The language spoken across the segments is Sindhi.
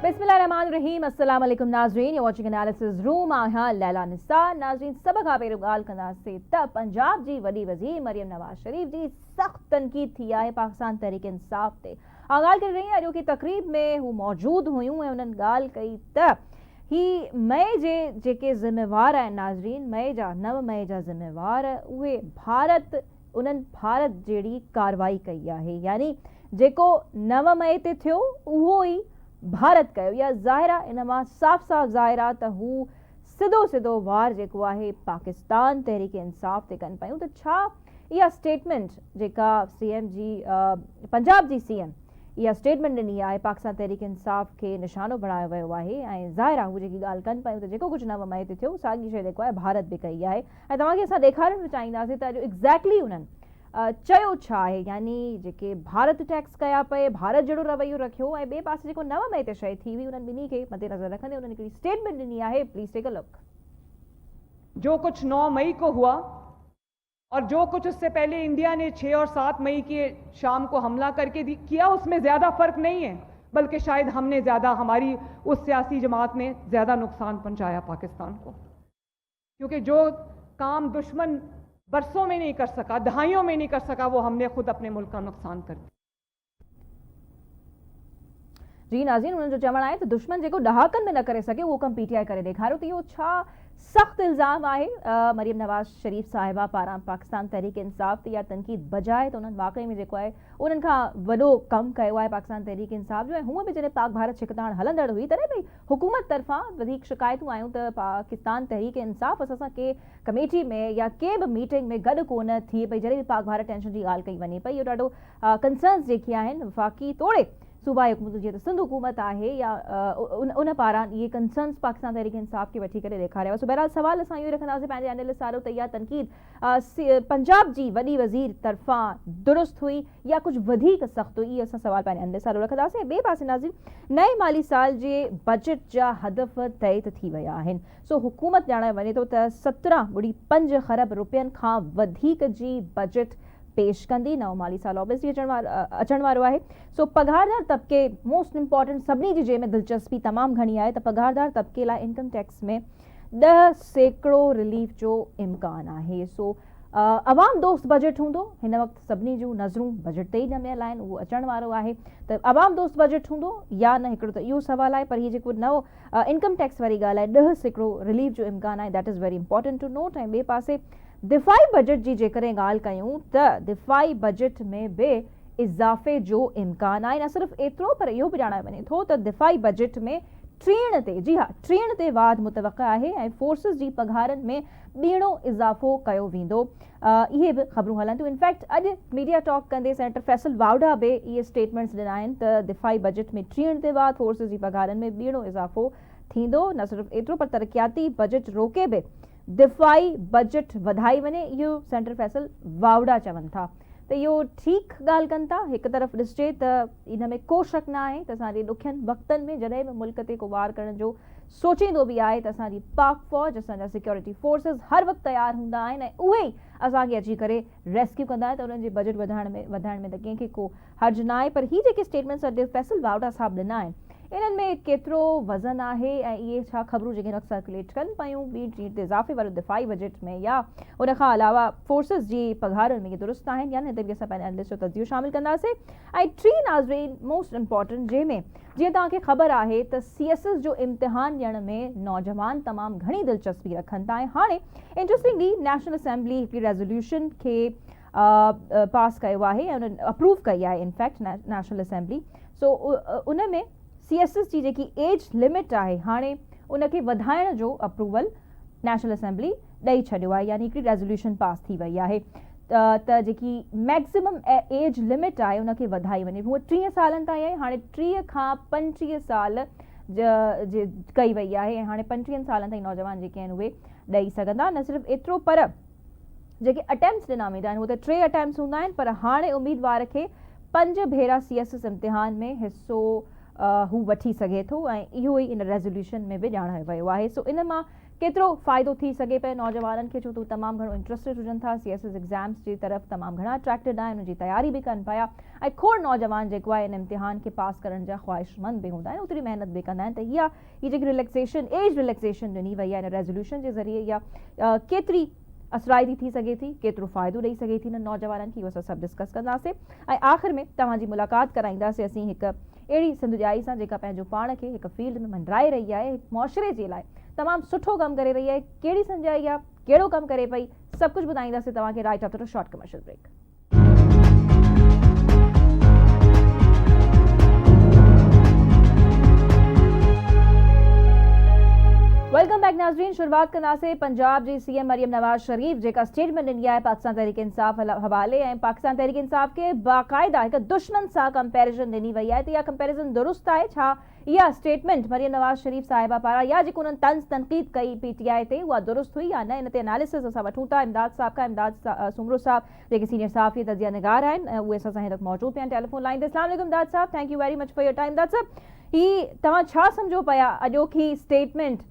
بسم الله الرحمن الرحيم السلام عليڪم ناظرين يو واچنگ اناليسز روم آهيان ليلا نثار ناظرين سڀ کان پهريون ڳالهه ڪنداسين ته پنجاب جي وڏي وزير مريم نواز شريف جي سخت تنقيد ٿي آهي پاڪستان تحريڪ انصاف تي آء ڳالهه ڪري رهي اڄوڪي تقريب ۾ هو موجود هيون ۽ انهن ڳالهه ڪئي ته هي مئي جي جيڪي ذميوار آهن ناظرين مئي جا نو مئي جا ذميوار اهي ڀارت انهن ڀارت جهڙي ڪارروائي ڪئي آهي يعني جيڪو نو مئي تي ٿيو اهو ئي ڀارت ڪيو اها ظاهر آهي ان مان صاف صاف ظاهر آهي ته هو سڌو سڌو وار جيڪو آهي پاڪستان تحريڪ انصاف تي ڪن پيون ته ڇا اها اسٽيٽمينٽ جيڪا سي ايم جي پنجاب جي سي ايم اها اسٽيٽمينٽ ڏني آهي پاڪستان تحريڪ انصاف کي نشانو بڻايو ويو آهي ۽ ظاهر آهي هو جيڪي ڳالهه ڪن پيون ته جيڪو ڪجهه نومبر هتي ٿيو ساڳي شيء جيڪو آهي ڀارت به ڪئي آهي ۽ توهان کي اسان ڏيکارڻ به چاهينداسين ته اڄ ايگزيڪٽلي انهن چيو ڇا آهي يعني جيڪي ڀارت ٽيڪس ڪيا پئي ڀارت جهڙو رويو رکيو ۽ ٻئي پاسي جيڪو نو مئي تي شيء ٿي هئي انهن ٻنهي کي مد نظر رکندي انهن هڪڙي اسٽيٽمينٽ ڏني آهي پليز ٽيڪ ا لڪ. جو ڪجهه نو مئي ڪو هئا. اور جو ڪجھ اس سي پهلي انڊيا ني ڇهه اور سات مئي ڪي شام ڪو حملا ڪر ڪي ڪيا اس مين زياده فرق نهين هي بلڪه شايد هم ني زياده هماري اس سياسي جماعت ني زياده نقصان پهنچايا پاڪستان ڪو ڪيونڪه جو ڪام دشمن برسون مين نهين ڪر سڪا دهايون مين نهين ڪر سڪا وو هم ني خود اپني ملڪ ڪا نقصان ڪر ديا. جي ناظرين انهن جو چوڻ آهي ته دشمن جيڪو ڏهاڪن ۾ نه ڪري سگهي اهو ڪم پي ٽي آء ڪري ڏيکاريو ته اهو ڇا سخت الزام آهي مريم نواز شريف صاحبه پاران پاڪستان تحريڪ انصاف تي اها تنقيد بجاء ته انهن واقعي ۾ جيڪو آهي انهن کان وڏو ڪم ڪيو آهي پاڪستان تحريڪ انصاف جو ۽ هونء به جڏهن پاڪ ڀارت ڇڪتاڻ هلندڙ هئي تڏهن به حڪومت طرفان وڌيڪ شڪايتون آيون ته پاڪستان تحريڪ انصاف اسان سان ڪي ڪميٽي ۾ يا ڪي به ميٽنگ ۾ گڏ ڪونه ٿئي پئي جڏهن به پاڪ ڀارت ٽينشن جي ڳالهه ڪئي وڃي پئي اهو ڏاڍو ڪنسرنز جيڪي آهن وفاقي توڙي صوبائي حڪومتون جيئن ته سنڌ حڪومت آهي يا ان پاران اهي ڪنسرنز پاڪستان تحريڪ انصاف کي وٺي ڪري ڏيکاريا ويا سو بهرحال سوال اسان اهو ئي رکنداسين پنهنجي اينلسٽ سارو ته اها تنقيد پنجاب جي وڏي وزير طرفان درست هئي يا ڪجهه وڌيڪ سخت هئي اهو اسان سوال پنهنجي اينلسٽ سارو رکنداسين ۽ ٻئي پاسي ناظرين نئين مالي سال جي بجيٽ جا هدف طئي ته ٿي ويا آهن سو حڪومت ڄاڻائي وڃي ٿو ته سترهن ٻڙي پنج خرب رپين کان وڌيڪ جي بجيٽ پيش ڪندي، نئون مالي سال آبس جي اچڻ وارو آهي سو پگهاردار طبقي موسٽ امپارٽنٽ سڀني جي جنهن ۾ دلچسپي تمام گهڻي آهي ته پگهاردار طبقي لاء انڪم ٽيڪس ۾ ڏهه سيڪڙو رليف جو امڪان آهي سو عوام دوست بجيٽ هوندو هن وقت سڀني جون نظرون بجيٽ تي ئي ڄميل آهن اهو اچڻ وارو آهي ته عوام دوست بجيٽ هوندو يا نه هڪڙو ته اهو سوال آهي پر هي جيڪو نئون انڪم ٽيڪس واري ڳالهه لاء ڏهه سيڪڙو رليف جو امڪان آهي that is very important to note ۽ ٻئي پاسي دفاعي بجيٽ جي جيڪڏهن ڳالهه ڪيون ته دفاعي بجيٽ ۾ به اضافي جو امڪان آهي نه صرف ايترو پر اهو به ڄاڻايو وڃي ٿو ته دفاعي بجيٽ ۾ ٽيڻ تي جي ها ٽيڻ تي واڌ متوقع آهي ۽ فورسز جي پگهارن ۾ ٻيڻو اضافو ڪيو ويندو اهي به خبرون هلن ٿيون انفيڪٽ اڄ ميڊيا ٽاڪ ڪندي سينيٽر فيصل واوڊا به اهي اسٽيٽمينٽس ڏنا آهن ته دفاعي بجيٽ ۾ ٽيڻ تي وات فورسز جي پگهارن ۾ ٻيڻو اضافو ٿيندو نه صرف ايترو پر ترقياتي بجيٽ روڪي به دفاعي بجيٽ وڌائي وڃي اهو سينيٽر فيصل واوڊا چون ٿا ته اهو ٺيڪ ڳالهه ڪن ٿا هڪ طرف ڏسجي ته ان ۾ ڪو شڪ نه آهي ته اسان جي ڏکين وقتن ۾ جڏهن به ملڪ تي ڪو وار ڪرڻ جو سوچيندو به آهي ته اسان جي پاڪ فوج، اسان جا سيڪيورٽي فورسز هر وقت تيار هوندا آهن ۽ اهي ئي اسان کي اچي ڪري ريسڪيو ڪندا آهن ته انهن جي بجيٽ وڌائڻ ۾ وڌائڻ ۾ ته ڪنهن کي ڪو حرج ناهي پر هي جيڪي اسٽيٽمينٽس اڄ فيصل واوڊا صاحب ڏنا آهن انهن ۾ ڪيترو وزن آهي ۽ اهي ڇا خبرون جيڪي هن وقت سرڪيوليٽ ڪن پيون ٻي ٽيڻ تي اضافي وارو دفاعي بجيٽ ۾ يا ان کان علاوه فورسز جي پگهارن ۾ اهي درست آهن يا نه هتي به اسان پنهنجا انالسٽ جو تجزيو شامل ڪنداسين ۽ ٽين ناظرين موسٽ امپورٽنٽ جنهن ۾ جيئن توهان کي خبر آهي ته سي ايس ايس جو امتحان ڏيڻ ۾ نوجوان تمام گهڻي دلچسپي رکن ٿا ۽ هاڻي انٽريسٽنگلي نيشنل اسيمبلي هڪڙي ريزوليوشن کي پاس ڪيو آهي ۽ ان اپروو ڪئي آهي ان فيڪٽ نيشنل اسيمبلي سو ان ۾ سي ايس ايس جي جيڪي ايج لمٽ آهي هاڻي ان کي وڌائڻ جو اپروول نيشنل اسيمبلي ڏئي ڇڏيو آهي يعني هڪڙي ريزوليوشن پاس ٿي وئي آهي ته جيڪي ميڪسيمم ايج لمٽ آهي ان کي وڌائي وڃي هوء ٽيهه سالن تائين آهي هاڻي ٽيهه کان پنجٽيهه سال ڪئي وئي آهي ۽ هاڻي پنجٽيهن سالن تائين نوجوان جيڪي آهن اهي ڏئي سگهندا نه صرف ايترو پر جيڪي اٽيمپس ڏنا ويندا آهن هو ته ٽي اٽيمپس هوندا آهن پر هاڻي اميدوار کي پنج ڀيرا سي ايس ايس امتحان ۾ حصو هو وٺي سگهي ٿو ۽ اهو ئي ان ريزوليوشن ۾ به ڄاڻايو ويو آهي سو ان مان ڪيترو فائدو ٿي سگهي پئي نوجوانن کي ڇو ته هو تمام گهڻو انٽرسٽيڊ هجن ٿا سي ايس ايس ايگزامس جي طرف تمام گهڻا اٽريڪٽيڊ آهن ان جي تياري به ڪن پيا ۽ کوڙ نوجوان جيڪو آهي ان امتحان کي پاس ڪرڻ جا خواهشمند به هوندا آهن اوتري محنت به ڪندا آهن ته اها هي جيڪي ريليڪسيشن ايج ريليڪسيشن ڏني وئي آهي ان ريزوليوشن جي ذريعي اها ڪيتري اثرائتي ٿي سگهي ٿي ڪيترو فائدو ڏئي سگهي ٿي انهن نوجوانن کي اهو اسان سڀ ڊسڪس ڪنداسين ۽ آخر ۾ توهان جي ملاقات ڪرائينداسين اسين هڪ اهڙي سنڌجائي سان جيڪا پنهنجو پاڻ کي هڪ فيلڊ ۾ منڊرائي رهي آهي، هڪ معاشري جي لاء تمام سٺو ڪم ڪري رهي آهي، ڪهڙي سنڌجائي آهي، ڪهڙو ڪم ڪري پئي، سڀ ڪجهه ٻڌائينداسين توهان کي right after a short commercial break. Welcome back ناظرين شروعات ڪنداسين پنجاب جي سي ايم مريم نواز شريف جيڪا اسٽيٽمينٽ ڏني آهي پاڪستان تحريڪ انصاف حوالي ۽ پاڪستان تحريڪ انصاف کي باقاعده هڪ دشمن سان ڪمپيرزن ڏني وئي آهي ته اها ڪمپيرزن درست آهي ڇا اها اسٽيٽمينٽ مريم نواز شريف صاحبه پاران يا جيڪو انهن طنز تنقيد ڪئي پي ٽي آئي تي اها درست هئي يا نه ان تي اناليسز اسان وٺون ٿا امداد صاحب کان امداد سومرو صاحب جيڪي سينيئر صحافي ۽ تجزيه نگار آهن اهي اسان سان هن وقت موجود پيا آهن ٽيليفون لائين تي اسلام عليڪم Imdad sahib thank you very much for your time Imdad sahib هي توهان ڇا سمجهو پيا اڄوڪي اسٽيٽمينٽ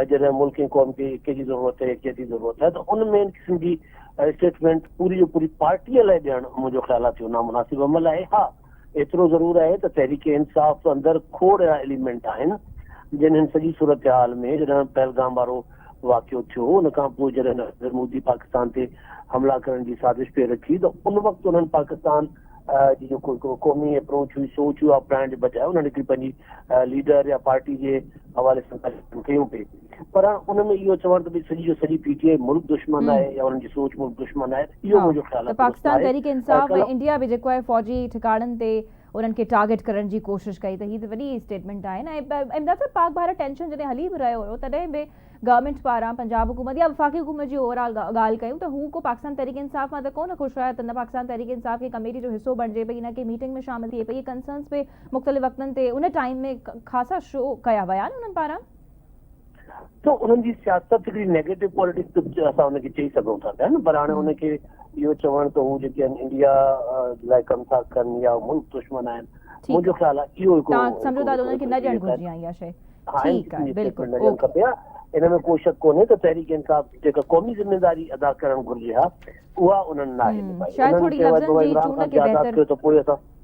۽ جڏهن ملڪ ۽ قوم کي ايڪي جي ضرورت آهي، يڪجهتي جي ضرورت آهي ته ان ۾ ان قسم جي اسٽيٽمينٽ پوري جو پوري پارٽيء لاء ڏيڻ منهنجو خيال آهي ته اهو نامناسب عمل آهي. ها ايترو ضرور آهي ته تحريڪ انصاف اندر کوڙ اهڙا ايليمينٽ آهن جن هن سڄي صورتحال ۾ جڏهن پهلگام وارو واقعو ٿيو ان کانپوء جڏهن نريندر مودي پاڪستان تي حملا ڪرڻ جي سازش پئي رکي ته ان وقت انهن پاڪستان جي جيڪو هڪڙو قومي اپروچ هئي سوچ هئي اپنائڻ جي بجاء انهن هڪڙي پنهنجي ليڊر يا پارٽي جي حوالي سان ڳالهيون ڪيون پئي پر ان ۾ اهو چوڻ ته ڀئي سڄي جو سڄي پي ٽي آء ملڪ دشمن آهي يا انهن جي سوچ ملڪ دشمن آهي اهو منهنجو خيال آهي ته پاڪستان تحريڪ انصاف ۽ انڊيا به جيڪو آهي فوجي ٺڪاڻن تي انهن کي ٽارگيٽ ڪرڻ جي ڪوشش ڪئي ته هي ته وڏي اسٽيٽمينٽ آهي نه ۽ امداد صاحب پاڪ ڀارت ٽينشن جڏهن هلي به رهيو هيو تڏهن به گورنمينٽ پاران پنجاب حڪومت يا وفاقي حڪومت جي اوور آل ڳالهه ڪيون ته هو ڪو پاڪستان تحريڪ انصاف مان ته ڪو نه خوش هيا ته نه پاڪستان تحريڪ انصاف کي ڪميٽي جو حصو بڻجي پئي نه ڪنهن ميٽنگ ۾ شامل ٿئي پئي اهي ڪنسرنس به مختلف وقتن تي ان ٽائيم ۾ خاصا شو ڪيا ويا آهن انهن پاران. سو انهن جي سياست هڪڙي نيگيٽو پوليٽڪس به اسان ان کي چئي سگهون ٿا پيا نه پر هاڻي ان کي اهو چوڻ ته هو جيڪي آهن انڊيا لاء ڪم ٿا ڪن يا ملڪ دشمن آهن منهنجو خيال آهي اهو هڪڙو تان سمجهو ٿا ته انهن کي نه ڏيڻ گهرجي آهي اها شيء ٺيڪ آهي بلڪل اوڪي. ان ۾ ڪو شڪ ڪونهي ته تحريڪ انصاف جيڪا قومي ذميواري ادا ڪرڻ گهرجي ها اها انهن ناهي نڀائي انهن چيو آهي ته عمران خان جي آزاد ڪيو ته پوء اسان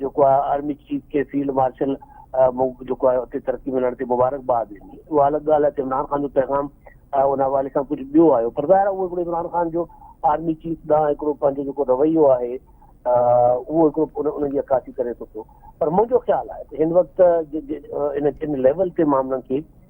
جيڪو آهي آرمي چيف کي فيلڊ مارشل جيڪو آهي اتي ترقي ملڻ تي مبارڪباد ڏني اها الڳ ڳالهه آهي ته عمران خان جو پيغام ان حوالي سان ڪجهه ٻيو آيو پر ظاهر اهو هڪڙو عمران خان جو آرمي چيف ڏانهن هڪڙو پنهنجو جيڪو رويو آهي اهو هڪڙو ان جي عڪاسي ڪري ٿو پيو پر منهنجو خيال آهي ته هن وقت ان ليول تي معاملن کي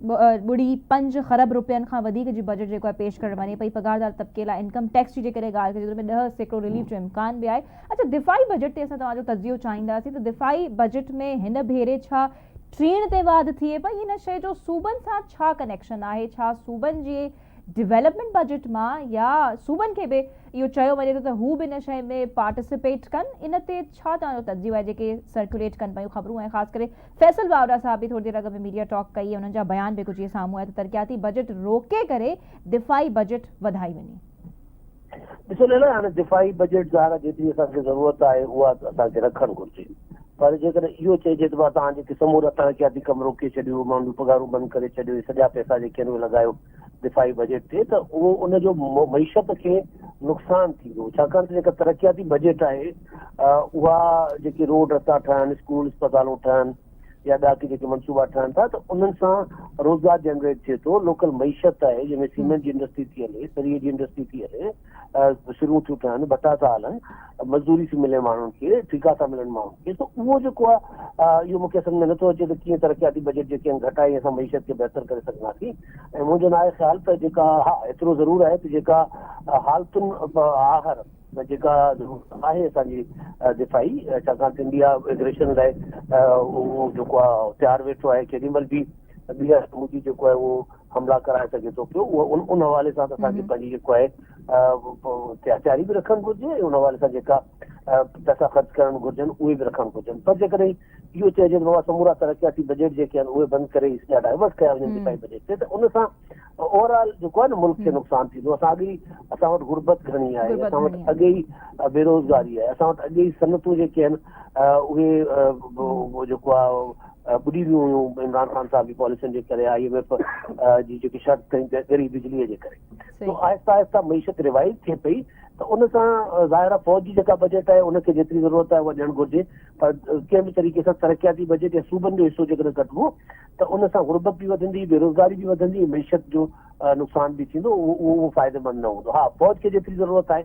ٻڙي پنج خرب رپين کان وڌيڪ جي بجيٽ جيڪو آهي پيش ڪرڻ وڃي پئي پگهاردار طبقي لاء انڪم ٽيڪس جي جيڪڏهن ڳالهه ڪجي ته ان ۾ ڏهه سيڪڙو رليف جو امڪان به آهي اڇا دفاعي بجيٽ تي اسان توهان جو تجزيو چاهينداسين ته دفاعي بجيٽ ۾ هن ڀيري ڇا ٽيڻ تي واڌ ٿئي پئي ان شئي جو صوبن سان ڇا ڪنيڪشن آهي ڇا صوبن جي ڊولپمينٽ بجيٽ مان يا صوبن کي به اهو چيو وڃي ٿو ته هو به ان شئي ۾ پارٽيسپيٽ ڪن ان تي ڇا توهان جو تجزيو آهي جيڪي سرڪيوليٽ ڪن پيون خبرون ۽ خاص ڪري فيصل واوڊا صاحب به ٿوري دير اڳ ۾ ميڊيا ٽاڪ ڪئي انهن جا بيان به ڪجهه اهي سامهون آيا ته ترقياتي بجيٽ روڪي ڪري دفاعي بجيٽ وڌائي وڃي. ڏسو ليلا هاڻي دفاعي بجيٽ ظاهر جيتري اسان کي ضرورت آهي اها اسان کي رکڻ گهرجي پر جيڪڏهن اهو چئجي ته مان توهان جيڪي سمورا ترقياتي ڪم روڪي ڇڏيو ماڻهن جون پگهارون بند ڪري ڇڏيو هي سڄا پئسا جيڪي آهن اهي لڳايو دفاعي بجيٽ تي ته اهو ان جو معيشت کي نقصان ٿيندو ڇاڪاڻ ته جيڪا ترقياتي بجيٽ آهي اها جيڪي روڊ رستا ٺهن اسڪول اسپتالون ٺهن يا ٻيا ڪي جيڪي منصوبا ٺهن ٿا ته انهن سان روزگار جنريٽ ٿئي ٿو لوڪل معيشت آهي جنهن ۾ سيمنٽ جي انڊسٽري ٿي هلي سري جي انڊسٽري ٿي هلي سرون ٿيون ٺهن، ڀتا ٿا هلن، مزدوري ٿي ملي ماڻهن کي، ٺيڪا ٿا ملن ماڻهن کي سو اهو جيڪو آهي اهو مون کي سمجهه ۾ نٿو اچي ته ڪيئن ترقياتي بجيٽ جيڪي آهن گهٽائي اسان معيشت کي بهتر ڪري سگهنداسين ۽ منهنجو ناهي خيال ته جيڪا ها ايترو ضرور آهي ته جيڪا حالتن آهر جيڪا ضرورت آهي اسان جي دفاعي ڇاڪاڻ ته انڊيا ايگريشن لاء اهو جيڪو آهي تيار ويٺو آهي ڪيڏي مهل به ٻيهر سموجي جيڪو آهي اهو حملا ڪرائي سگهي ٿو پيو اهو ان حوالي سان اسان کي پنهنجي جيڪو آهي احتياطياري به رکڻ گهرجي ۽ ان حوالي سان جيڪا پيسا خرچ ڪرڻ گهرجن اهي به رکڻ گهرجن پر جيڪڏهن اهو چئجي ته بابا سمورا ترقياتي بجيٽ جيڪي آهن اهي بند ڪري اها ڊائيورٽ ڪيا وڃن ڏفاعي بجيٽ تي ته ان سان اوور آل جيڪو آهي نه ملڪ کي نقصان ٿيندو اسان اڳي اسان وٽ غربت گهڻي آهي اسان وٽ اڳي ئي بيروزگاري آهي اسان وٽ اڳي ئي صنعتون جيڪي آهن اهي جيڪو آهي ٻڏي ويون هيون عمران خان صاحب جي پاليسين جي ڪري آء ايم ايف جي جيڪي شرط ڪئي ڳري بجلي جي ڪري سو آهسته آهسته معيشت ريوائيو ٿئي پئي ته ان سان ظاهر آهي فوج جي جيڪا بجيٽ آهي ان کي جيتري ضرورت آهي اها ڏيڻ گهرجي پر ڪنهن به طريقي سان ترقياتي بجيٽ يا صوبن جو حصو جيڪڏهن ڪٽبو ته ان سان غربت به وڌندي بيروزگاري به وڌندي معيشت جو نقصان به ٿيندو اهو فائديمند نه هوندو ها فوج کي جيتري ضرورت آهي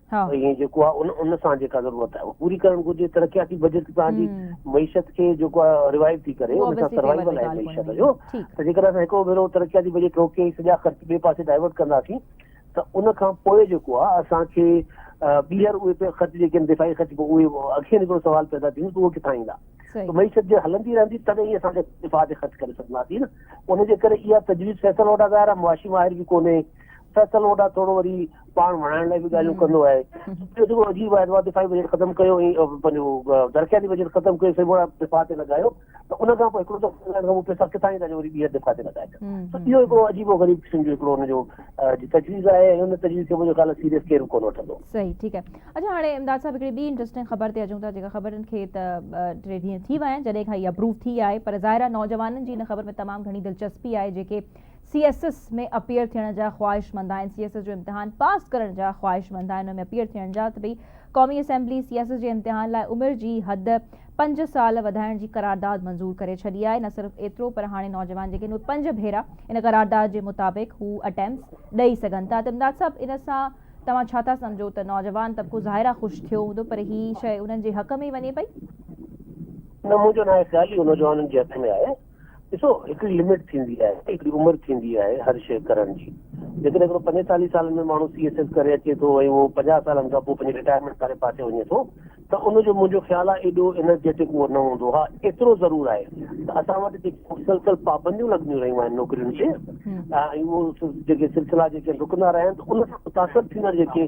۽ جيڪو آهي ان ان سان جيڪا ضرورت آهي اها پوري ڪرڻ گهرجي ترقياتي بجيٽ تان جي معيشت کي جيڪو آهي روايت ٿي ڪري ان سان سروائيول آهي معيشت جو ته جيڪڏهن اسان هڪڙو ڀيرو ترقياتي بجيٽ روڪي سڄا خرچ ٻئي پاسي ڊائيورٽ ڪنداسين ته ان کان پوء جيڪو آهي اسان کي ٻيهر اهي خرچ جيڪي آهن دفاعي خرچ اهي اکين هڪڙو سوال پيدا ٿيندو ته اهي ڪٿان ايندا معيشت جي هلندي رهندي تڏهن ئي اسان دفاع تي خرچ ڪري سگهنداسين ان جي ڪري اها تجويز فيصل وٽ ظاهر آهي معاشي ماهر به ڪونهي فيصل ووڊا ٿورو وري پاڻ وڻائڻ لاء به ڳالهيون ڪندو آهي ٻيو جيڪو عجيب آهي ته دفاعي بجيٽ ختم ڪيو ۽ پنهنجو درخيالي بجيٽ ختم ڪيو سي ووڊا دفاع تي لڳايو ته ان کان پوء هڪڙو دفعو لڳائڻ کان پوء پئسا ڪٿان ايندا جو وري ٻيهر دفاع تي لڳائي ته اهو هڪڙو عجيب و غريب قسم جو هڪڙو ان جو تجويز آهي ۽ ان تجويز کي منهنجو خيال آهي سيريس ڪير به ڪونه وٺندو صحيح ٺيڪ آهي اچا هاڻي امداد صاحب هڪڙي ٻي انٽرسٽنگ خبر تي اچون ٿا جيڪا خبر کي ته ٽي ڏينهن ٿي ويا آهن جڏهن کان هي اپروو ٿي آهي پر ظاهر آهي نوجوانن جي ان خبر ۾ تمام گهڻي دلچسپي آهي جيڪي سي ايس ايس ۾ اپيئر ٿيڻ جا خواهشمند آهن، سي ايس ايس جو امتحان پاس ڪرڻ جا خواهشمند آهن ان ۾ اپيئر ٿيڻ جا ته ڀئي قومي اسيمبلي سي ايس ايس جي امتحان لاء عمر جي حد پنج سال وڌائڻ جي قرارداد منظور ڪري ڇڏي آهي نه صرف ايترو پر هاڻي نوجوان جيڪي اهي پنج ڀيرا ان قرارداد جي مطابق هو اٽيمس ڏئي سگهن ٿا ته امداد صاحب ان سان توهان ڇا ٿا سمجهو ته نوجوان طبقو ظاهر آهي خوش ٿيو هوندو پر هي شئي انهن جي حق ۾ ئي وڃي پئي. نه منهنجو ناهي خيال اهو نوجوانن جي حق ۾ آهي. ڏسو هڪڙي لمٽ ٿيندي آهي هڪڙي عمر ٿيندي آهي هر شيء ڪرڻ جي جيڪڏهن هڪڙو پنجيتاليهه سالن ۾ ماڻهو سي ايس ايس ڪري اچي ٿو ۽ اهو پنجاهه سالن کان پوء پنهنجي رٽائرمينٽ واري پاسي وڃي ٿو ته ان جو منهنجو خيال آهي ايڏو انرجيٽڪ اهو نه هوندو ها ايترو ضرور آهي ته اسان وٽ جيڪي مسلسل پابنديون لڳنديون رهيون آهن نوڪرين تي ۽ اهو جيڪي سلسلا جيڪي رڪندا رهيا آهن ته ان سان متاثر ٿيندڙ جيڪي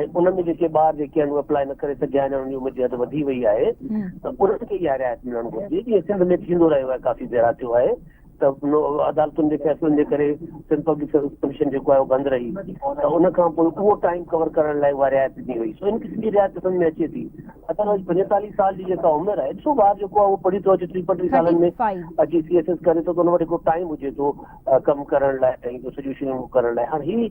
۽ انهن ۾ جيڪي ٻار جيڪي آهن اهي اپلائي نه ڪري سگهيا آهن يا انهن جي عمر جي حد وڌي وئي آهي ته انهن کي اها رعايت ملڻ گهرجي جيئن سنڌ ۾ ٿيندو رهيو آهي ڪافي ڀيرا ٿيو آهي ته عدالتن جي فيصلن جي ڪري سنڌ پبلڪ سروس ڪميشن جيڪو آهي اهو بند رهي ته ان کان پوء اهو ٽائيم ڪور ڪرڻ لاء اها رعايت ڏني وئي سو ان قسم جي رعايت سمجهه ۾ اچي ٿي ادروائيز پنجيتاليهه سال جي جيڪا عمر آهي ڏسو ٻار جيڪو آهي اهو پڙهي ٿو اچي ٽي پنجٽيهه سالن ۾ اچي سي ايس ايس ڪري ٿو ته ان وٽ هڪڙو ٽائيم هجي ٿو ڪم ڪرڻ لاء ۽ سڄيون شيون ڪرڻ لاء هاڻ هي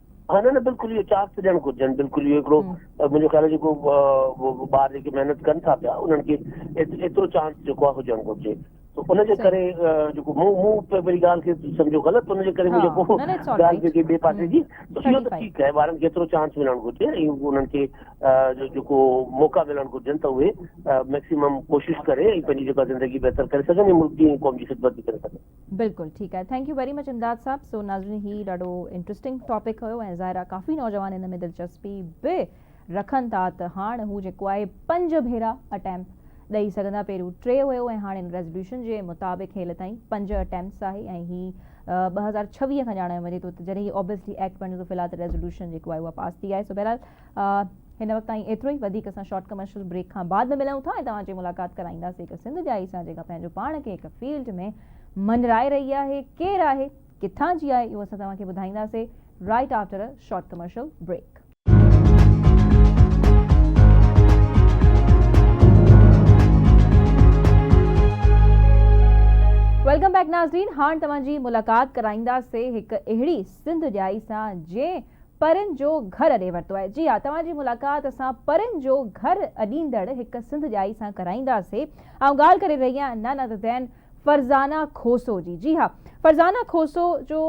ها نه نه بلڪل اهو چانس ته ڏيڻ گهرجن بلڪل اهو هڪڙو منهنجو خيال آهي جيڪو ٻار جيڪي محنت ڪن ٿا پيا انهن کي ايترو چانس جيڪو آهي هجڻ گهرجي ان جي ڪري جيڪو مون مون پنهنجي ڳالهه کي سمجهيو غلط ان جي ڪري مون جيڪو ڳالهه جيڪي ٻئي پاسي جي اهو ته ٺيڪ آهي ٻارن کي ايترو چانس ملڻ گهرجي ۽ انهن کي جيڪو موقعا ملڻ گهرجن ته اهي ميڪسيمم ڪوشش ڪري ۽ پنهنجي جيڪا زندگي بهتر ڪري سگهن ۽ ملڪ جي قوم جي خدمت به ڪري سگهن بلڪل ٺيڪ آهي thank you very much Imdad sahib so ناظرين هي ڏاڍو انٽرسٽنگ ٽاپڪ هيو ۽ ظاهر آهي ڪافي نوجوان ان ۾ دلچسپي به رکن ٿا ته هاڻ هو جيڪو آهي پنج ڀيرا اٽيمپ ڏئي سگهندا پهريون ٽي هيو ۽ هاڻ ان ريزوليوشن جي مطابق هيل تائين پنج اٽيمپس آهي ۽ هي ٻه هزار ڇويهه کان ڄاڻايو وڃي ٿو ته جڏهن هي اوبيسلي ايڪٽ بڻجي ٿو في الحال ته ريزوليوشن جيڪو آهي اها پاس ٿي آهي سو بهرحال هن وقت تائين ايترو ئي وڌيڪ اسان شارٽ ڪمرشل بريڪ کان بعد ۾ ملون ٿا ۽ توهان جي ملاقات ڪرائينداسي هڪ سنڌ جائي سان جيڪا پنهنجو پاڻ کي هڪ فيلڊ ۾ مڃرائي رهي آهي ڪير آهي ڪٿان جي آهي اهو اسان توهان کي ٻڌائينداسي right after a short commercial break. Welcome back ناظرين هاڻ توهان جي ملاقات ڪرائينداسي هڪ اهڙي سنڌ جائي سان جنهن پرين جو گهر اڏي ورتو آهي. جي ها، توهان جي ملاقات اسان پرين جو گهر اڏيندڙ هڪ سنڌ ڄائي سان ڪرائينداسي. آئون ڳالهه ڪري رهي آهيان نه نه ته دين فرزانه کوسو جي. جي ها، فرزانه کوسو جو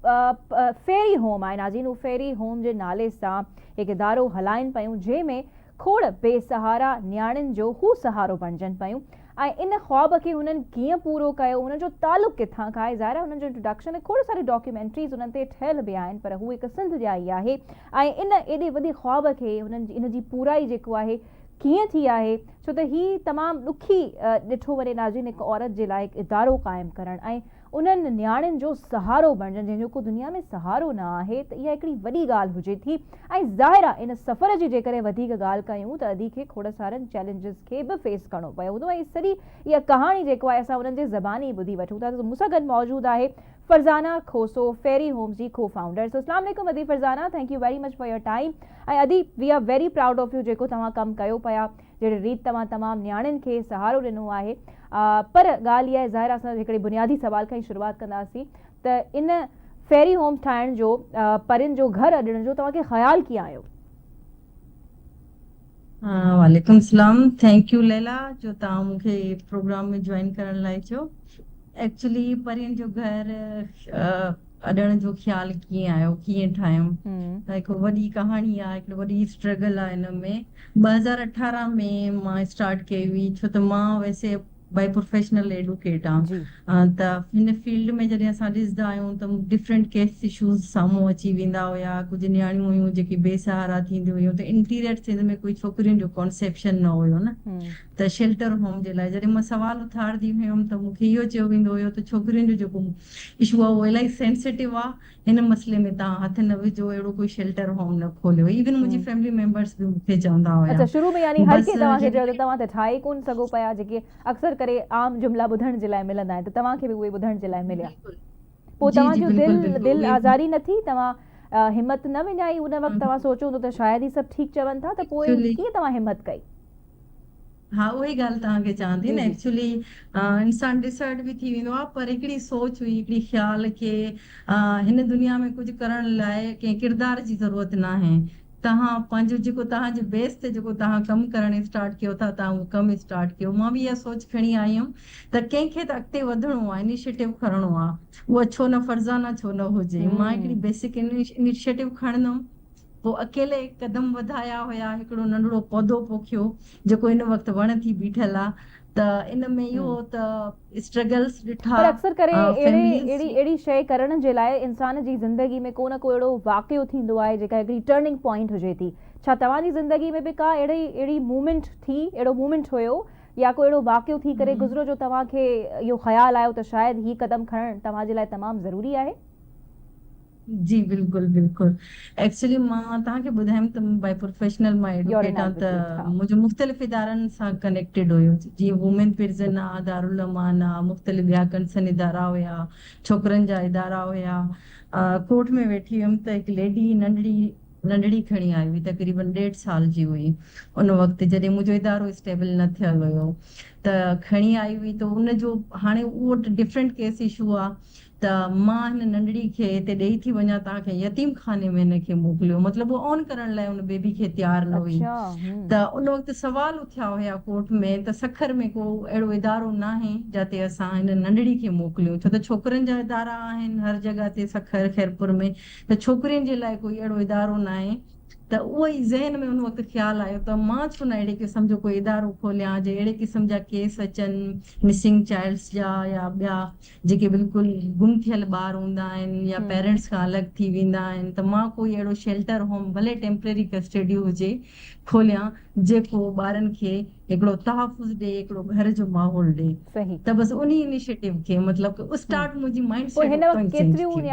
پ فيري هوم آهي. نازين هو فيري هوم جي نالي سان هڪ ادارو هلائين پيون جنهن ۾ کوڙ بي سهارا نياڻين جو هو سهارو بڻجن پيون. ۽ ان خواب کي هنن ڪيئن پورو ڪيو، هنن جو تعلق ڪٿان کان آهي، ظاهر آهي هنن جو انٽروڊڪشن ۽ کوڙ ساريون ڊاڪيومينٽريز انهن تي ٺهيل به آهن پر هو هڪ سنڌ جا ئي آهي ۽ ان ايڏي وڏي خواب کي هنن ان جي پورائي جيڪو آهي ڪيئن ٿي آهي ڇو ته هي تمام ڏکي ڏٺو وڃي نازنين هڪ عورت جي لاء هڪ ادارو قائم ڪرڻ ۽ انهن نياڻين جو سهارو بڻجن جنهن جو ڪو دنيا ۾ سهارو نه آهي ته اها هڪڙي وڏي ڳالهه هجي ٿي ۽ ظاهر آهي ان سفر جي جيڪڏهن وڌيڪ ڳالهه ڪيون ته ادي کي کوڙ سارن چئلينجز کي به فيس ڪرڻو پيو هوندو ۽ سڄي اها ڪهاڻي جيڪو آهي اسان انهن جي زباني ٻڌي وٺون ٿا ته مون سان گڏ موجود آهي فرزانه کوسو فيري هومز جي ڪو فائونڊر سو اسلام عليڪم ادي Farzana thank you very much for your time ۽ ادي we are very proud of you جيڪو توهان ڪم ڪيو پيا جهڙي ريت توهان تمام نياڻين کي سهارو ڏنو آهي پر ڳالهه اها آهي ظاهر آهي اسان هڪڙي بنيادي سوال کان ئي شروعات ڪنداسين ته ان فيري هوم ٺاهڻ جو پرين جو گهر اڏڻ جو توهان کي خيال ڪيئن آيو؟ وعليڪم السلام ٿينڪ يو ليلا جو توهان مون کي پروگرام ۾ جوائن ڪرڻ لاء چيو ايڪچولي پرين جو گهر اڏڻ جو خيال ڪيئن آيو ڪيئن ٺاهيم ته هڪ وڏي ڪهاڻي آهي هڪڙي وڏي اسٽرگل آهي ان ۾ ٻه هزار اٺارهن ۾ مان اسٽارٽ ڪئي هئي ڇو ته مان ويسي بائي پروفيشنل ايڊوڪيٽ آهيان جي. ته هن فيلڊ ۾ جڏهن اسان ڏسندا آهيون ته ڊفرنٽ ڪيس اشوز سامهون اچي ويندا هيا ڪجهه نياڻيون هيون جيڪي بي سهارا ٿينديون هيون ته انٽيريئر سنڌ ۾ ڪوئي ڇوڪرين جو ڪانسيپشن نه هيو نه ته شيلٽر هوم جي لاء جڏهن مان سوال اٿارندي هيم ته مون کي اهو چيو ويندو هيو ته ڇوڪرين جو جيڪو اشو آهي اهو الاهي سينسيٽو آهي هن مسئلي ۾ تان هٿ نه وجهو اهڙو ڪوئي شيلٽر هوم نه کوليو ايون منهنجي فيملي ميمبرس به مونکي چوندا هيا اڇا شروع ۾ يعني هر ڪنهن توهان کي چيو ته توهان ته ٺاهي ئي ڪون سگهو پيا جيڪي اڪثر ڪري عام جملا ٻڌڻ جي لاء ملندا آهن ته توهان کي به اهي ٻڌڻ جي لاء مليا پوء توهان جو دل دل آزاري نه ٿي توهان همت نه وڃائي ان وقت توهان سوچيو هوندو ته شايد هي سڀ ٺيڪ چون ٿا ته پوء ڪيئن توهان همت ڪئي. ها اها ئي ڳالهه توهان کي چوان ٿي نه ايڪچولي انسان ڊسهرٽ به ٿي ويندو آهي پر هڪڙي سوچ هئي هڪڙي خيال ڪي هن دنيا ۾ ڪجهه ڪرڻ لاء ڪنهن ڪردار جي ضرورت ناهي توهان پنهنجو جيڪو توهان جي بيس تي جيڪو توهان ڪم ڪرڻ اسٽارٽ ڪيو ٿا توهان اهو ڪم اسٽارٽ ڪيو مان به اها سوچ کڻي آئي هيم ته ڪنهن کي ته اڳتي وڌڻو آهي انيشيٽو کڻڻو آهي اها ڇو نه فرزانه ڇو نه هجي مان هڪڙي بيسڪ انيشيٽو کڻندم پوء اڪيلي قدم وڌايا هيا، هڪڙو ننڍڙو پودو پوکيو جيڪو هن وقت وڻ ٿي بيٺل آ ته ان ۾ اهو ته اسٽرگلس ڏٺا، پر اڪثر ڪري اهڙي فيمليز اهڙي جي. اهڙي شيء ڪرڻ جي لاء انسان جي زندگي ۾ ڪو نه ڪو اهڙو واقعو ٿيندو آهي جيڪا هڪڙي ٽرننگ پوائنٽ هجي ٿي، ڇا توهان جي زندگي ۾ به ڪا اهڙي اهڙي مومينٽ ٿي، اهڙو مومينٽ هيو يا ڪو اهڙو واقعو ٿي ڪري گذريو جو توهان کي اهو خيال آيو ته شايد هي قدم کڻڻ توهان جي لاء تمام ضروري آهي؟ جي بلڪل بلڪل ايڪچلي مان توهان کي ٻڌايم ته مان بائي پروفيشنل مان ايڊوڪيٽ آهيان ته منهنجو مختلف ادارن سان ڪنيڪٽيڊ هيو جيئن وومين پرزن آ دارالامان آ مختلف ٻيا ڪنسن ادارا هيا ڇوڪرن جا ادارا هيا ڪورٽ ۾ ويٺي هيم ته هڪ ليڊي ننڍڙي ننڍڙي کڻي آئي هئي تقريبن ڏيڍ سال جي هئي ان وقت جڏهن منهنجو ادارو اسٽيبل نه ٿيل هيو ته کڻي آئي هئي ته ان جو هاڻي اهو ڊفرنٽ ڪيس اشو آ ته مان هن ننڍڙي کي هتي ڏيئي ٿي وڃان توهان ڪنهن يتيم خاني ۾ هن کي موڪليو مطلب هوء اون ڪرڻ لاء ان بيبي کي تيار نه هئي ته ان وقت سوال اٿيا هيا ڪورٽ ۾ ته سکر ۾ ڪو اهڙو ادارو ناهي جاتي اسان هن ننڍڙي کي موڪليون ڇو ته ڇوڪرين جا ادارا آهن هر جڳهه تي سکر خيرپور ۾ ته ڇوڪرين جي لاء ڪوئي اهڙو ادارو ناهي ته اهو ئي ذهن ۾ ان وقت خيال آيو ته مان ڇو نه اهڙي قسم جو ڪوئي ادارو کوليان جي اهڙي قسم جا ڪيس اچن مسنگ چائلڊس جا يا ٻيا جيڪي بلڪل گم ٿيل ٻار هوندا آهن يا پيرنٽس کان الڳ ٿي ويندا آهن ته مان ڪوئي اهڙو شيلٽر هوم ڀلي ٽيمپرري ڪسٽڊي هجي کوليان جيڪو ٻارن کي هڪڙو تحفظ ڏي هڪڙو گهر جو ماحول ڏي ته بس انهي انيشيٽو کي مطلب ڪه اسٽارٽ منهنجي مائنڊ سيٽ اتان ئي چينج ٿي ويو.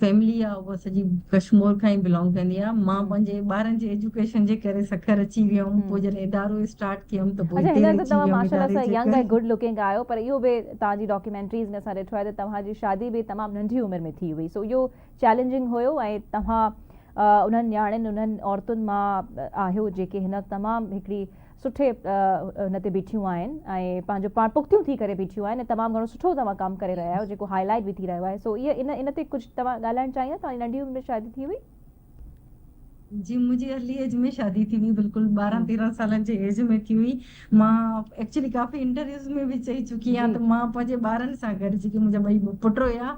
فيملي آ اها سڄي ڪشمور کان ئي بلانگ ڪندي آ مان پنهنجي ٻارن جي ايجوڪيشن جي ڪري سکر اچي ويم پوء جڏهن ادارو اسٽارٽ ڪيم ته پوء اتي رهجي ويم اداري جي ڪري اچا هينئر ته توهان ماشاء الله سا ينگ ۽ گڊ لوڪنگ آهيو پر اهو به توهان جي ڊاڪيومينٽريز ۾ اسان ڏٺو آهي ته توهان جي شادي به تمام ننڍي عمر ۾ ٿي هئي سو اهو چئلينجنگ هيو ۽ توهان انهن نياڻين انهن عورتن مان آهيو جيڪي هن وقت تمام هڪڙي سٺي هن تي بيٺيون آهن ۽ پنهنجو پاڻ پختيون ٿي ڪري بيٺيون آهن ۽ تمام گهڻو سٺو توهان ڪم ڪري رهيا آهيو جيڪو هائي لائيٽ به ٿي رهيو آهي سو هي ان ان تي ڪجهه توهان ڳالهائڻ چاهيندا توهان جي ننڍي عمر ۾ شادي ٿي هئي؟ جي منهنجي ارلي ايج ۾ شادي ٿي هئي بلڪل ٻارهن تيرهن سالن جي ايج ۾ ٿي هئي مان ايڪچولي ڪافي انٽرويوز ۾ به چئي چڪي آهيان ته مان پنهنجي ٻارن سان گڏ جيڪي منهنجا ٻئي پٽ هيا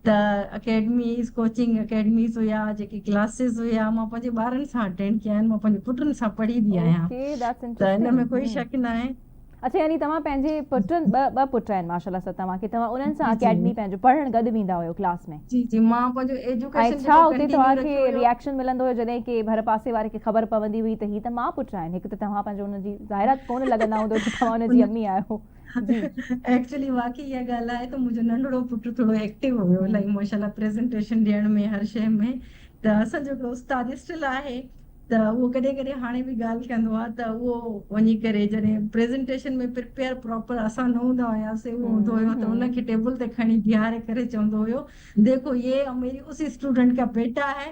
ته اڪيڊميز، ڪوچنگ اڪيڊميز هيا، جيڪي ڪلاسز هيا، مان پنهنجي ٻارن سان اٽينڊ ڪيا آهن، مان پنهنجي پٽن سان پڙهي به آهيان، اوڪي ڌيٽس انٽرسٽنگ، ته ان ۾ ڪوئي شڪ ناهي. اڇا يعني توهان پنهنجي پٽن، ٻه ٻه پٽ آهن ماشاءالله سا توهان کي، توهان انهن سان اڪيڊمي پنهنجو پڙهڻ گڏ ويندا هيو ڪلاس ۾؟ جي جي مان پنهنجو ايجوڪيشن ۽ ڇا اتي توهان کي ريئڪشن ملندو هيو جڏهن ڪي ڀر پاسي واري کي خبر پوندي هئي ته هي ته ماء پٽ آهن، هڪ ته توهان پنهنجو ان جي ظاهرا ڪونه لڳندا هوندو ته توهان ان جي امي آهيو. جي ايڪچولي واقعي اها ڳالهه آهي ته منهنجو ننڍڙو پٽ ٿورو ايڪٽو هيو الاهي ماشاالله پريزنٽيشن ڏيڻ ۾ هر شي ۾ ته اسان جو هڪڙو استاد اسٽل آهي ته اهو ڪڏهن ڪڏهن هاڻي به ڳالهه ڪندو آهي ته اهو وڃي ڪري جڏهن پريزنٽيشن ۾ پريپيئر پراپر اسان نه هوندا هياسي اهو هوندو هيو ته ان کي ٽيبل تي کڻي بيهاري ڪري چوندو هيو ديکو يي ميري اسي اسٽوڊنٽ ڪا بيٽا هي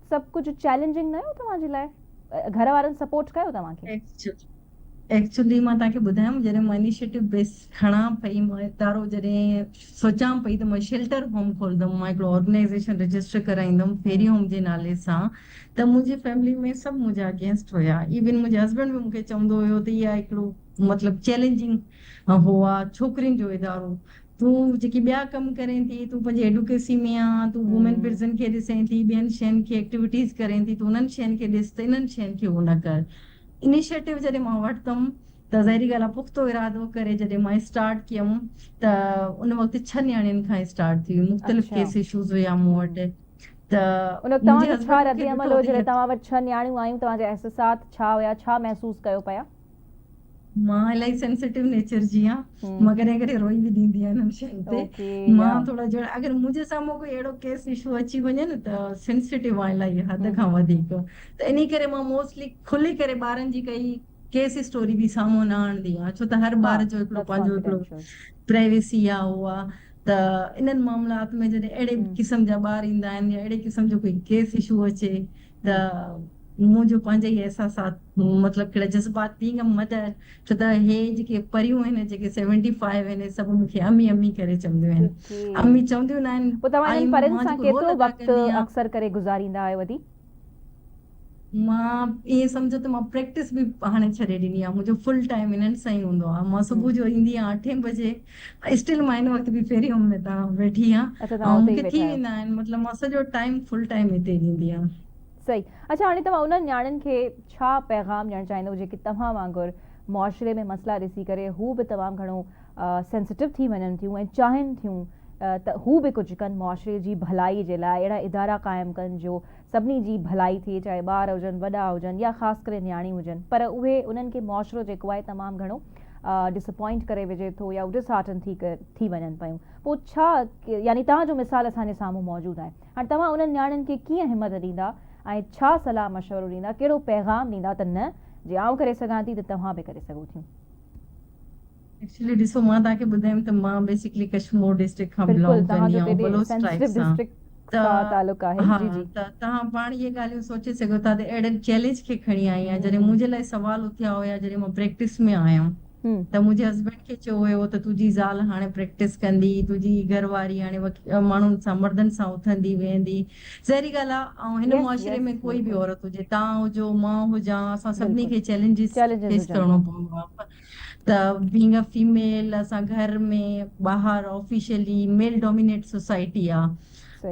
سڀ ڪجهه چئلينجنگ نه هيو توهان جي لاء گهر وارن سپورٽ ڪيو توهان کي. ايڪچلي مان توهان کي ٻڌايم جڏهن مان انيشيٽو بيس کڻان پئي مان ادارو جڏهن سوچان پئي ته مان شيلٽر هوم کولندم مان هڪڙو آرگنائيزيشن رجسٽر ڪرائيندم فيري هوم جي نالي سان ته منهنجي فيملي ۾ سڀ منهنجا اگينسٽ هيا ايون منهنجي هسبينڊ به مون کي چوندو هيو ته اها هڪڙو مطلب چئلينجنگ هو آ ڇوڪرين جو ادارو تون جيڪي ٻيا ڪم ڪرين ٿي، تون پنهنجي ايڊوڪيسي ۾ آن، تون وومين پرزن کي ڏسين ٿي، ٻين شين کي ايڪٽيوٽيز ڪرين ٿي، تون انهن شين کي ڏس ته انهن شين کي اهو نه ڪر. انيشيٽو جڏهن مان ورتم ته ظاهري ڳالهه آهي پختو ارادو ڪري جڏهن مان اسٽارٽ ڪيم ته ان وقت ڇهه نياڻين کان اسٽارٽ ٿي هئي، مختلف ڪيس ايشوز هيا مون وٽ ته منهنجي هسبنڊ مون کي ڏٺو ته اهي. ان وقت توهان جو ڇا رد عمل هو جڏهن توهان وٽ ڇهه نياڻيون آيون، توهان جا احسسات ڇا هيا، ڇا محسوس ڪيو پيا؟ مان الائي سينسيٽو نيچر جي آهيان مان ڪڏهن ڪڏهن روئي به ڏيندي آهيان انهن شين تي مان ٿورا جهڙا اگر منهنجي سامهون ڪوئي اهڙو ڪيس اشو اچي وڃي نه ته سينسيٽو آهيان الائي حد کان وڌيڪ ته انهي ڪري مان موسٽلي کلي ڪري ٻارن جي ڪئي ڪيس اسٽوري به سامهون نه آڻندي آهيان ڇو ته هر ٻار جو هڪڙو پنهنجو هڪڙو پرائيويسي آهي اهو آهي ته انهن معاملات ۾ جڏهن اهڙي قسم جا ٻار ايندا آهن يا اهڙي قسم جو ڪوئي ڪيس اشو اچي ته مون جو پنهنجا ئي احساسات مطلب ڪهڙا جذبات ڏينگم مدء ڇو ته هي جيڪي پريون آهن جيڪي سيونٽي فائيو آهن هي سڀ مون کي امي امي ڪري چونديون آهن امي چونديون نه آهن پوء توهان انهن پرين سان ڪيترو وقت اڪثر ڪري گذاريندا آهيو ادي؟ مان ائين سمجهو ته مان پريڪٽس به هاڻي ڇڏي ڏني آهي منهنجو فل ٽائيم انهن سان ئي هوندو آهي مان صبح جو ايندي آهيان اٺين بجي اسٽل مان هن وقت به پهريون ۾ تان ويٺي آهيان اڇا توهان اتي ئي ويٺا آهيو. آهن مطلب مان سڄو ٽائيم فل ٽائيم هتي ئي ڏيندي آهيان. صحيح اڇا هاڻي توهان انهن نياڻين کي ڇا پيغام ڏيڻ چاهيندو جيڪي توهان وانگر معاشري ۾ مسئلا ڏسي ڪري هو به تمام گهڻو سينسيٽو ٿي وڃن ٿيون ۽ چاهين ٿيون ته هو به ڪجهه ڪن معاشري جي ڀلائي جي لاء اهڙا ادارا قائم ڪن جو سڀني جي ڀلائي ٿئي چاهي ٻار هجن وڏا هجن يا خاص ڪري نياڻيون هجن پر اهي انهن کي معاشرو جيڪو آهي تمام گهڻو Disappoint ڪري وجهي ٿو يا ڊس هارٽن ٿي ٿي وڃن پيون پو ڇا يعني توهان جو مثال اسان جي سامهون موجود آهي هاڻ توهان انهن نياڻين کي ڪيئن همت ڏيندا ۽ ڇا صلاح مشورو ڏيندا ڪهڙو پيغام ڏيندا ته نه جي آئون ڪري سگهان ٿي ته توهان به ڪري سگهو ٿيون. ايڪچولي ڏسو مان توهان کي ٻڌايم ته مان بيسڪلي ڪشمور ڊسٽرڪٽ کان بلانگ ڪندي آهيان بلوچ ٽرائيب سان ته ها ته توهان پاڻ اهي ڳالهيون سوچي سگهو ٿا ته اهڙن چئلينج کي کڻي آئي آهيان جڏهن منهنجي لاء سوال اٿيا هيا جڏهن مان پريڪٽس ۾ آيم ته منهنجي هسبينڊ کي چيو ويو هو ته تنهنجي زال هاڻي پريڪٽس ڪندي تنهنجي گهر واري هاڻي ماڻهن سان مردن سان اٿندي ويهندي ظاهري ڳالهه آهي ۽ هن معاشري ۾ ڪوئي به عورت هجي توهان هجو مان هجان اسان سڀني کي چئلينجز فيس ڪرڻو پوندو آهي ته بينگ ا فيميل اسان گهر ۾ ٻاهر آفيشلي ميل ڊومينيٽ سوسائٽي آ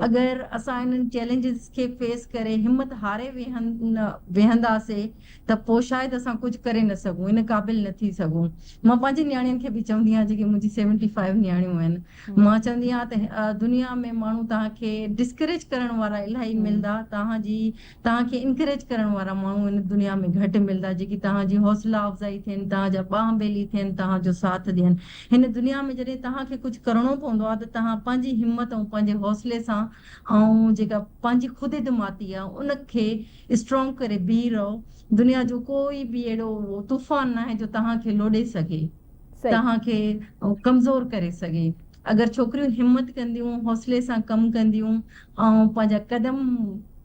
اگر اسان انهن چئلينجز کي فيس ڪري همت هاري ويهنداسي ته پو شايد اسان ڪجهه ڪري نه سگهون ان قابل نه ٿي سگهون مان پنهنجي نياڻين کي به چوندي آهيان جيڪي منهنجي سيونٽي فائيو نياڻيون آهن مان چوندي آهيان ته دنيا ۾ ماڻهو توهان کي ڊسڪريج ڪرڻ وارا الاهي ملندا توهان جي توهان کي انڪريج ڪرڻ وارا ماڻهو هن دنيا ۾ گهٽ ملندا جيڪي توهان جي حوصلا افزائي ٿين، توهان جا ٻانهن ٻيلي ٿين، توهان جو ساٿ ڏين. هن دنيا ۾ جڏهن توهان کي ڪجهه ڪرڻو پوندو آهي ته توهان پنهنجي همت ۽ پنهنجي حوصلي سان ۽ جيڪا پنهنجي خود اعتمادي آهي ان کي اسٽرانگ ڪري بيهي رهو. دنيا جو ڪوئي به اهڙو طوفان ناهي جو توهان کي لوڏي سگهي، توهان کي ڪمزور ڪري سگهي. اگر ڇوڪريون همت ڪنديون، حوصلي سان ڪم ڪنديون آئون پنهنجا قدم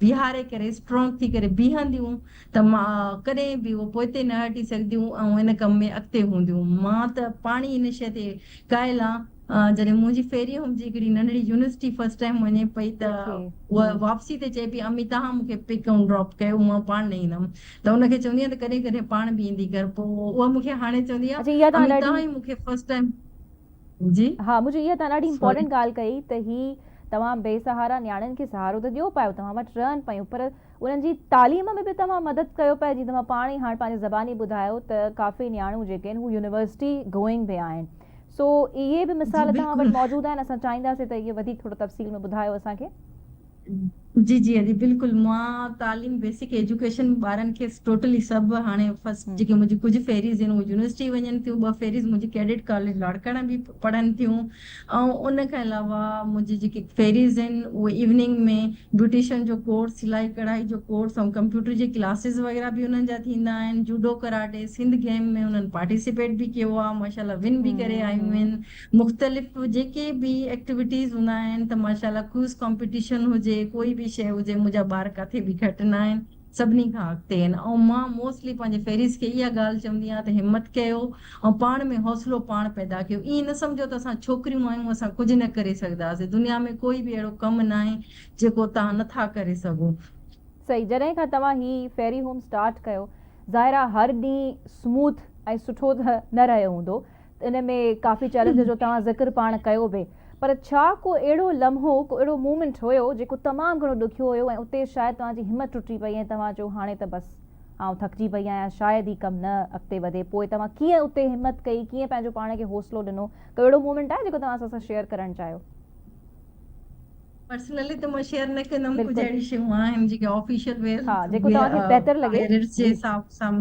بيهاري ڪري اسٽرانگ ٿي ڪري بيهنديون ته مان ڪڏهن به اهو پوئتي نه هٽي سگهنديون ۽ ان ڪم ۾ اڳتي هونديون. مان ته پاڻهي ان شيء تي قائل آهيان. جڏهن منهنجي ڦيري هوم جي هڪڙي ننڍڙي يونيورسٽي فرسٽ ٽائيم وڃي پئي ته هوء واپسي تي چئي پئي امي تهان مون کي پڪ ۽ ڊراپ ڪيو مان پاڻ نه ايندم ته ان کي چوندي آهيان ته ڪڏهن ڪڏهن پاڻ به ايندي ڪر پوء اها مون کي هاڻي چوندي آهي امي تهان ئي مون کي فرسٽ ٽائيم جي ها مجھي اها توهان ڏاڍي امپورٽنٽ ڳالهه ڪئي ته هي توهان بي سهارا نياڻين کي سهارو ته ڏيو پايو توهان وٽ رهن پيون پر انهن جي تعليم ۾ به توهان مدد ڪيو پيا جيئن توهان پاڻ ئي هاڻ پنهنجي زباني ٻڌايو ته ڪافي نياڻيون جيڪي آهن هو يونيورسٽي گوئنگ به آهن سو اهي به مثال توهان وٽ موجود آهن اسان چاهينداسين ته اهي وڌيڪ ٿورو تفصيل ۾ ٻڌايو اسان کي جي جي ادي بلڪل مان تعليم بيسڪ ايجوڪيشن ٻارن کي ٽوٽلي سڀ هاڻي فرسٽ جيڪي منهنجي ڪجهه فيريز آهن اهي يونيورسٽي وڃن ٿيون ٻه فيريز منهنجي ڪيڊٽ ڪاليج لاڙڪاڻه به پڙهن ٿيون ۽ ان کان علاوه منهنجي جيڪي فيريز آهن اهي ايوننگ ۾ بيوٽيشن جو ڪورس سلائي ڪڙهائي جو ڪورس ۽ ڪمپيوٽر جي ڪلاسز وغيره به انهن جا ٿيندا آهن جوڊو ڪراٽي سنڌ گيم ۾ انهن پارٽيسپيٽ به ڪيو آهي ماشاء الله ون به ڪري آيون آهن مختلف جيڪي به ايڪٽيوٽيز هوندا آهن ته ماشاء الله ڪوئز ڪامپيٽيشن هجي ڪوئي به شيء هجي منهنجا ٻار ڪاٿي به گهٽ نه آهن سڀني کان اڳتي آهن ۽ مان موسٽلي پنهنجي فيريز کي اها ڳالهه چوندي آهيان ته همت ڪيو ۽ پاڻ ۾ حوصلو پاڻ پيدا ڪيو ائين نه سمجهو ته اسان ڇوڪريون آهيون اسان ڪجهه نه ڪري سگهداسين دنيا ۾ ڪوئي به اهڙو ڪم ناهي جيڪو توهان نه ٿا ڪري سگهو. صحيح جڏهن کان توهان هي فيري هوم اسٽارٽ ڪيو ظاهر آ هر ڏينهن سموٿ ۽ سٺو ته نه رهيو هوندو ان ۾ ڪافي چئلينج جو توهان ذڪر پاڻ ڪيو به پر ڇا ڪو اهڙو لمحو ڪو اهڙو مومينٽ هيو جيڪو تمام گهڻو ڏکيو هيو ۽ اتي شايد توهان جي همت ٽٽي پئي ۽ توهان چيو هاڻي ته بس آئون ٿڪجي پئي آهيان شايد هي ڪم نه اڳتي وڌي پوء توهان ڪيئن اتي همت ڪئي ڪيئن پنهنجو پاڻ کي حوصلو ڏنو ڪو اهڙو مومينٽ آهي جيڪو توهان اسان سان شيئر ڪرڻ چاهيو. پرسنلي ته مان شيئر نه ڪندم ڪجھ بلڪل اهڙي شيون آهن جيڪي آفيشل ويئر ها جيڪو ويئر توهان کي بهتر لڳي پيرنٽس جي جي حساب سان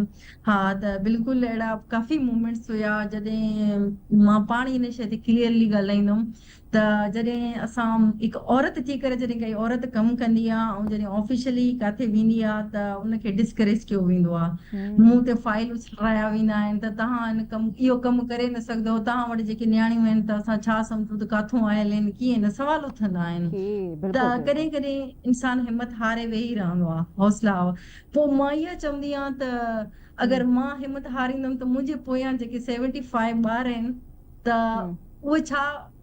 ها ته بلڪل اهڙا ڪافي مومينٽس هيا جڏهن مان پاڻ هن شي تي ڪليئرلي ڳالهائيندم ته جڏهن اسان هڪ عورت ٿي ڪري جڏهن ڪائي عورت ڪم ڪندي آ ۽ جڏهن آفيشلي ڪاٿي ويندي آ ته ان کي ڊسڪريج ڪيو ويندو آ مون تي فائل اڇ ٺاهيا ويندا آهن ته توهان ان ڪم اهو ڪم ڪري نه سگهندؤ، توهان وٽ جيڪي نياڻيون آهن ته اسان ڇا سمجهون ته ڪاٿون آيل آهن ڪيئن نه سوال اٿندا آهن ته ڪڏهن ڪڏهن انسان همت هاري ويهي رهندو آهي حوصلا پوء مان اها چوندي آهيان ته اگر مان همت هاريندم ته منهنجي پويان جيڪي سيونٽي فائيو ٻار آهن ته اهي ڇا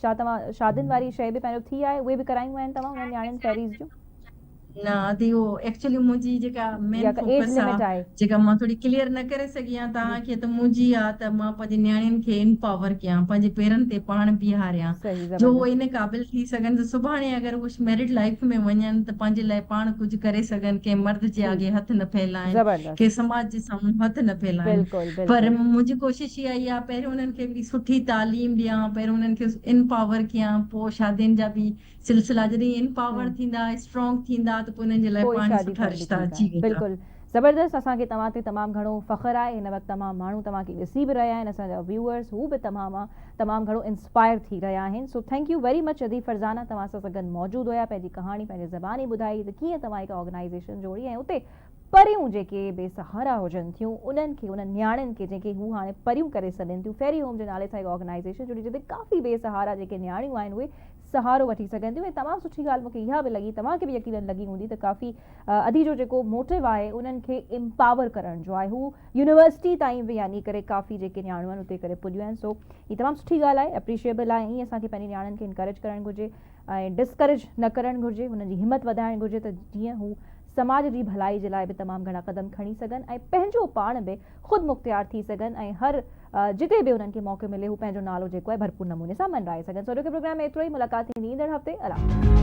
ڇا توهان شادين واري شيء به پهريون ٿي آهي اهي به ڪرايون آهن توهان انهن نياڻين فيريز جون. نه دادي اهو ايڪچولي منهنجي جيڪا مين يا ڪا ايج فوڪس لمٽ آهي آهي. جيڪا مان ٿوري ڪليئر نه ڪري سگهي آهيان جي. توهان کي ته منهنجي آ ته مان پنهنجي نياڻين کي انپاور ڪيان پنهنجي پيرن تي پاڻ بيهاريان صحيح جو اهي زبردست. ان قابل ٿي سگهن ته سڀاڻي اگر اهي ميرڊ لائيف ۾ وڃن ته پنهنجي لاء پاڻ ڪجهه ڪري سگهن ڪنهن مرد جي ٺيڪ آڳي هٿ نه ڦهلائين. زبردست. ڪي سماج جي سامهون هٿ نه ڦهلائين پر منهنجي ڪوشش اها ئي آهي پهريون انهن کي هڪڙي سٺي تعليم ڏيان پهريون انهن کي انپاور ڪيان پوء شادين جا به سلسلا جڏهن انپاور ٿيندا اسٽرانگ ٿيندا ته پوء انهن جي لاء پاڻهي سٺا رشتا اچي ويندا. زبردست اسان کي توهان تي تمام گهڻو فخر آهي هن وقت تمام ماڻهو توهان کي ڏسي به رهيا آهن اسان جا ويوئرس هو به توهان مان تمام گهڻو انسپائر ٿي رهيا آهن so thank you very much ادي فرزانه توهان سان سگن موجود هيا پنهنجي ڪهاڻي پنهنجي زباني ٻڌائي ته ڪيئن توهان هڪ آرگنائيزيشن جوڙي ۽ اتي پريون جيڪي بي سهارا هجن ٿيون انهن کي انهن نياڻين کي جنهن کي هو هاڻي پريون ڪري سڏين ٿيون فيري هوم جي نالي سان هڪ آرگنائيزيشن جڙي جتي ڪافي بي سهارا جيڪي نياڻيون آهن اهي سهارو وٺي سگهن ٿيون ۽ تمام سٺي ڳالهه مون کي اها به لڳي توهان کي به يقينن لڳي هوندي ته ڪافي ادي جو جيڪو موٽو آهي انهن کي امپاور ڪرڻ جو آهي هو يونيورسٽي تائين به يعني ڪري ڪافي جيڪي نياڻيون آهن اتي ڪري پڄيون آهن سو هي تمام سٺي ڳالهه آهي اپريشيبل آهي ائين اسان کي پنهنجي نياڻين کي انڪريج ڪرڻ گهرجي ۽ ڊسڪريج نه ڪرڻ گهرجي، هنن جي همت وڌائڻ گهرجي ته جيئن هو سماج جي ڀلائي جي لاء به تمام گهڻا قدم کڻي سگهن ۽ پنهنجو پاڻ به خودمختيار ٿي سگهن ۽ هر جتي به انهن کي موقعو ملي هو پنهنجو نالو جيڪو آهي ڀرپور نموني سان منرائي سگهن سو اڄوڪي پروگرام ۾ ايترو ئي ملاقات ٿيندي ايندڙ هفتي الله.